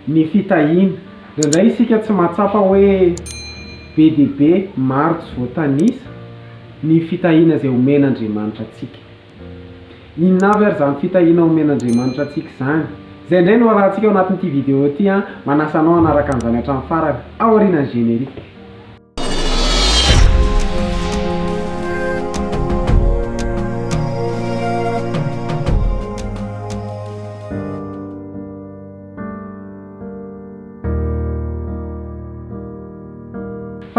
Ny fitahiana. Indraindray isika tsy mahatsapa hoe be dia be maro tsy voatanisa ny fitahiana izay omen'Andriamanitra antsika. Inona avy ary izany fitahiana omen'Andriamanitra antsika izany? Izay indray no harahantsika ao anatin'ity vidéo ity, manasa anao hanaraka an'izany hatramin'ny farany, ao aorianan'ny générique.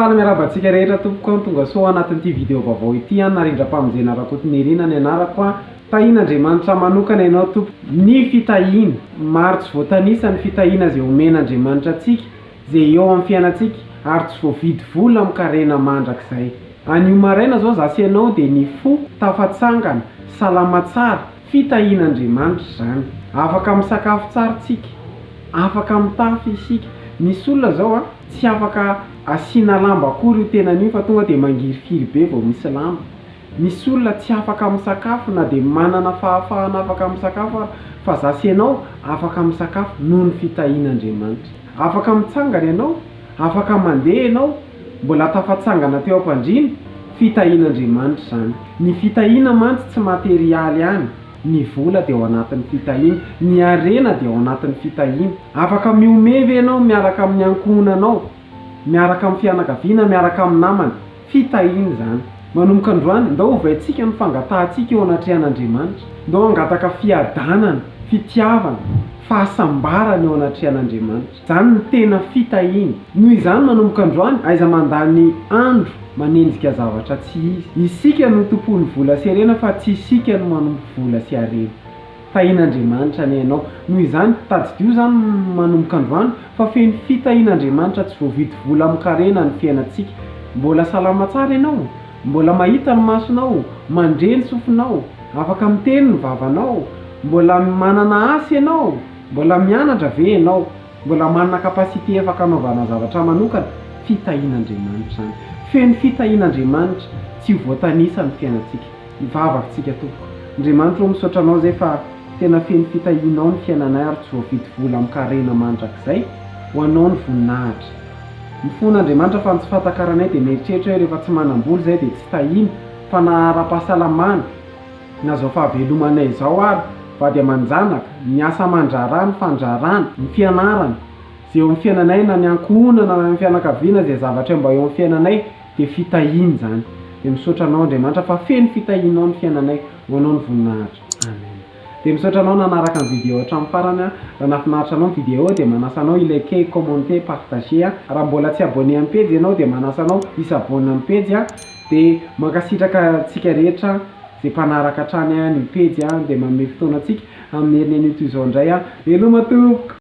Faly miarahaba antsika rehetra tompoko an, tongasoa ao anatin'ity video vaovao ity an, Narindram-pamonjena Rakotonirina ny anarako an, tahin' Andriamanitra manokana ianao tompoko, ny fitahiana, maro tsy voatanisa ny fitahiana izay omen' Andriamanitra antsika, izay eo amin'ny fiainantsika ary tsy voavidy vola amin-karena mandrakizay. Anio maraina izao izaho sy ianao dia ny fo tafatsangana, salama tsara, fitahian'Andriamanitra izany. Afaka misakafo tsara isika, afaka mitafy isika. Misy olona izao an, tsy afaka asiana lamba akory io tenany io fa tonga dia mangirifiry be vao misy lamba. Misy olona tsy afaka misakafo na dia manana fahafahana afaka misakafo aza, fa izaho sy ianao afaka misakafo noho ny fitahian'Andriamanitra. Afaka mitsangana ianao, afaka mandeha ianao, mbola tafatsangana teo am-pandriana, fitahian'Andriamanitra izany. Ny fitahiana mantsy tsy materialy ihany, ny vola dia ao anatin'ny fitahiana, ny harena dia ao anatin'ny fitahiana. Afaka mihomehy ve ianao miaraka amin'ny ankohonanao, miaraka amin'ny fianakaviana, miaraka amin'ny namana? Fitahiana izany. Manomboka androany, ndao hovaintsika ny fangatahantsika eo anatrehan'Andriamanitra. Ndao hangataka fiadanana, fitiavana, fahasambarana eo anatrehan'Andriamanitra. Izany no tena fitahiana. Noho izany, manomboka androany, aiza mandany andro manenjika zavatra tsy izy. Isika no tompon'ny vola sy harena fa tsy isika no manompo vola sy harena. Tahian'Andriamanitra anie ianao. Noho izany, tadidio izany manomboka androany fa feno fitahian'Andriamanitra tsy voavidy vola amin-karena ny fiainantsika. Mbola salama tsara ianao? Mbola mahita ny masonao? Mandre ny sofinao? Afaka miteny ny vavanao? Mbola manana asa ianao? Mbola mianatra ve ianao? Mbola manana capacité afaka anaovana zavatra manokana? Fitahian'Andriamanitra izany. Feno fitahian'Andriamanitra tsy ho voatanisa ny fiainantsika. Hivavaka tsika tompoko. Andriamanitra o misaotra anao zay fa tena feno fitahianao ny fiainanay ary tsy voavidy vola amin karena mandrakizay ho anao ny voninahitra. Mifona Andriamanitra fa ny tsy fatakaranay dia mieritreritra hoe rehefa tsy manambola zay dia tsy tahiana fa na arapahasalamana na zao fahavelomanay zao ary vady amanjanaka, ny asa amandraharaha, ny fandraharana, ny fianarana, zay eo amin fiainanay na ny ankohonana na ny fianakaviana zay zavatra mba eo amin fiainanay dia fitahiana izany dia misaotra anao Andriamanitra fa feno fitahianao ny fiainanay ho anao ny voninahitra Amen dia misaotra anao nanaraka ny vidéo hatramin'ny farany aho raha nahafinaritra anao ny vidéo dia manasa anao hi liker hi commenter partager a raha mbola tsy abonné amin'ny pejy ianao dia manasa anao hi s'abonne amin'ny pejy a dia mankasitraka antsika rehetra izay mpanaraka hatrany an'io pejy a dia manome fotoana antsika amin'ny herin'ny anio toy izao indray a veloma tompoko.